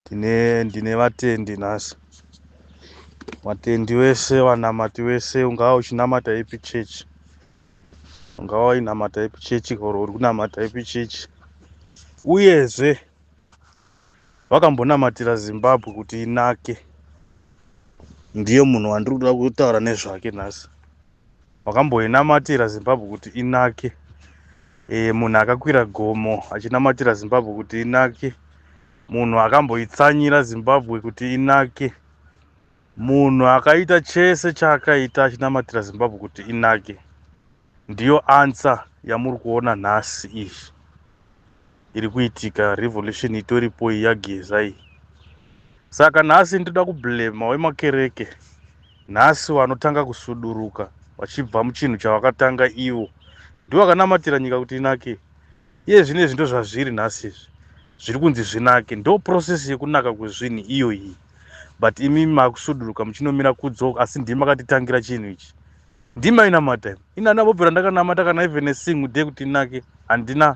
tine ndine vatendi nhasi vatendi vese vanamati vese ungava uchinamata ipi chechi ungava wainamata ipi chechi or uri kunamata ipi chechi uyezve vakambonamatira zimbabwe kuti inake ndiye munhu wandiri kuda kutaura nezvake nhasi wakamboinamatira zimbabwe kuti inake e, munhu akakwira gomo achinamatira zimbabwe kuti inake munhu akamboitsanyira zimbabwe kuti inake munhu akaita chese chaakaita achinamatira zimbabwe kuti inake ndiyo ansa yamuri kuona nhasi izvi iri kuitika revolution itoripo iyi yageza iyi saka nhasi ndoda kublema wemakereke nhasi vanotanga kusuduruka vachibva muchinhu chavakatanga ivo ndovakanamatira nyika kuti inake iye zvine zvinto zvazviri nhasi izvi zviri kunzi zvinake ndo process yekunaka kwezvinhu iyo iyi but imi makusuduruka muchinomira kudzok asi ndimi makatitangira chinhu ichi ndimi ainamata inana vobvira ndakanamata kana even a single day kuti inake handina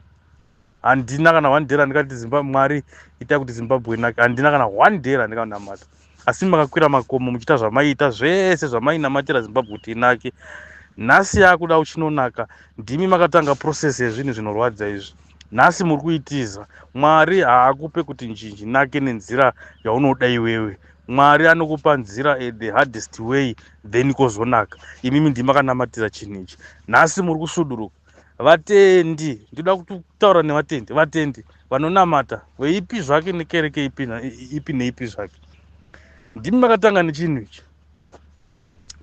handina kana one day randikati zimbabwe mwari ita kuti zimbabwe inake handina kana one day randikanamata asi makakwira makomo muchiita zvamaiita zvese zvamainamatira zimbabwe kuti inake nhasi yakuda uchinonaka ndimi makatanga process yezvinhu zvinorwadza izvi nhasi muri kuitiza mwari haakupe kuti nzhinji nake nenzira yaunoda iwewe mwari anokupa nzira eh, the hardest way then kozonaka imimi ndimaka namatira chinhu ichi nhasi muri kusuduruka vatendi ndinoda kutaura nevatendi vatendi vanonamata veipi zvake nekereke ipi neipi zvake ndimi makatanga nechinhu ichi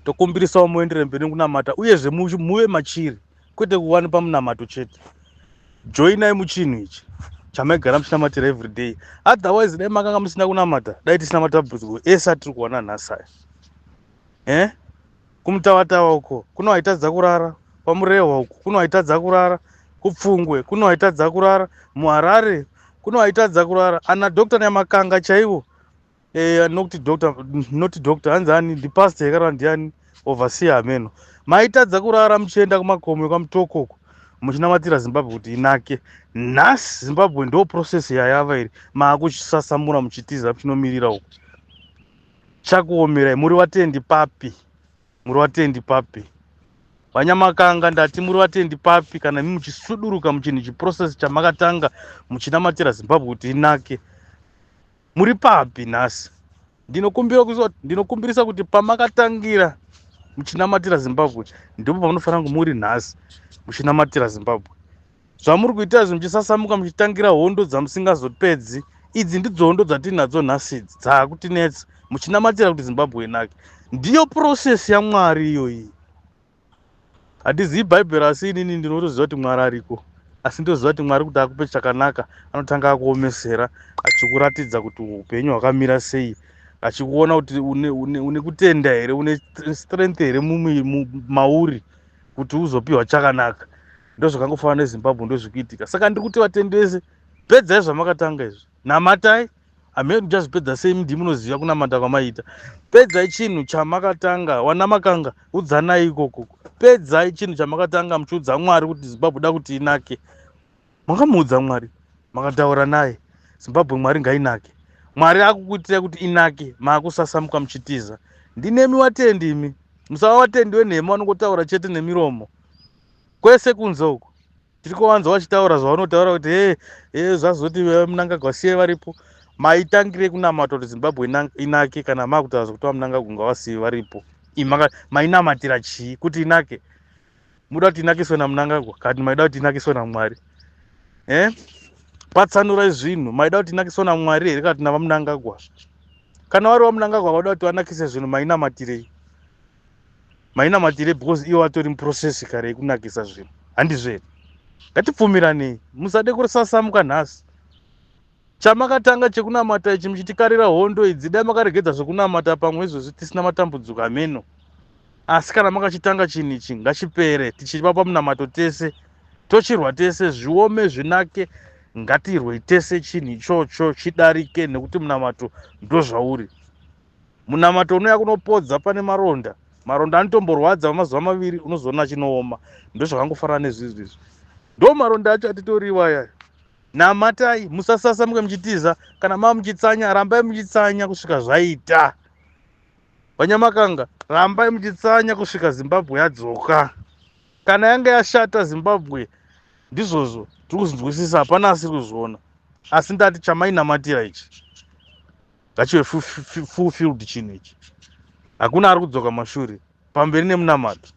tokumbirisawo muendere mberi nekunamata uyezve muve machiri kwete kuwani pamunamato chete joinai muchinhu ichi chamaigara muchinamatira everyday otherwise dai makanga musina kunamata dai tisina matambudziko ese atiri kuwana nhasi aya eh? kumutawatawa uko kuno haitadza kurara kwamurehwa uko kuno haitadza kurara kupfungwe kuno haitadza kurara muharare kuno haitadza kurara ana doctor nyamakanga chaivo eh, nokuti doctor noti doctor hanzi ani ndipastor yakarara ndiani overseer hameno maitadza kurara muchienda kumakomo kwamutoko uko muchinamatira zimbabwe kuti inake nhasi zimbabwe ndo process yayava iri maakuchisasamura muchitiza muchinomirira uko Chakuomerai muri vatendi papi? Muri vatendi papi? Vanyamakanga ndati muri vatendi papi kana imi muchisuduruka muchinhu chiprocess chamakatanga muchinamatira Zimbabwe kuti inake. Muri papi nhasi? Ndinokumbira kuziva ndinokumbirisa kuti pamakatangira muchinamatira Zimbabwe ndipo pamanofanira kunge muri nhasi muchinamatira Zimbabwe. zvamuri kuita izvi muchisasamuka muchitangira hondo dzamusingazopedzi idzi ndidzo hondo dzatiinadzo nhasi idzi dzaakutinetsa muchinamatira kuti zimbabwe inake ndiyo purosesi yamwari iyoyi handizivi bhaibheri asi inini ndinotoziva kuti mwari ariko asi ndoziva kuti mwari kuti akupe chakanaka anotanga akuomesera achikuratidza kuti upenyu hwakamira sei achikuona kuti une kutenda here une strength here mauri kuti uzopiwa chakanaka ndozvakangofanana nezimbabwe ndozvikuitika saka ndiri kuti vatendi vese pedzai zvamakatanga izvi namatai amheri muchazvipedza sei mdii munoziva kunamata kwamaita pedzai chinhu chamakatanga wana makanga udzanai ikoko pedzai chinhu chamakatanga muchiudza mwari kuti zimbabwe da kuti inake makamuudza mwari makataura naye zimbabwe mwari ngainake mwari akukuitirai kuti inake maakusasamuka muchitiza ndinemi watendi imi musava watendi wenhema vanongotaura chete nemiromo kwese kunze uko tiri kuvanza vachitaura zvavanotaura kuti e e zvazoti munangagwa siye varipo maitangire kunamata kuti zimbabwe inake kana makutaura zvekuti vamunangagwa ngavasiye varipo mainamatira chii kuti inake muda kuti inakiswe namunangagwa kati maida kuti inakiswe namwari e eh? patsanurai zvinhu maida kuti inakiswe namwari here kana kuti navamunangagwa kana vari vamunangagwa vada kuti vanakise zvinhu mainamatirei mainamatire because iwo atori muprocess kare yekunakisa zvinhu handizvo here ngatipfumiranei musade kusasamuka nhasi chamakatanga chekunamata ichi muchitikarira hondo idzi dai makaregedza zvekunamata pamwe izvozvi tisina matambudziko ameno asi kana makachitanga chinhu ichi ngachipere tichiva pamunamato tese tochirwa tese zviome zvinake ngatirwei tese chinhu ichocho chidarike nekuti munamato ndozvauri munamato unouya kunopodza pane maronda maronda anotomborwadza vamazuva maviri unozoona achinooma ndozvakangofanana nezvizvi izvi ndo maronda acho atitoriwa aya namatai musasasa muke muchitiza kana maa muchitsanya rambai muchitsanya kusvika zvaita vanyamakanga rambai muchitsanya kusvika zimbabwe yadzoka kana yange yashata zimbabwe ndizvozvo tiri kuzvinzwisisa hapana asiri kuzviona asi ndati chamainamatira ichi ngachive fulfilled chinhu ichi hakuna ari kudzoka mashure pamberi nemunamato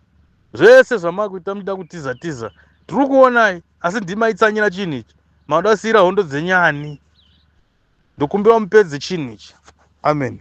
zvese zvamakuita muda kutiza tiza tiri kuonai asi ndimaitsanyira chinhu ichi maoda kusiyira hondo dzenyani ndokumbira mupedze chinhu ichi amen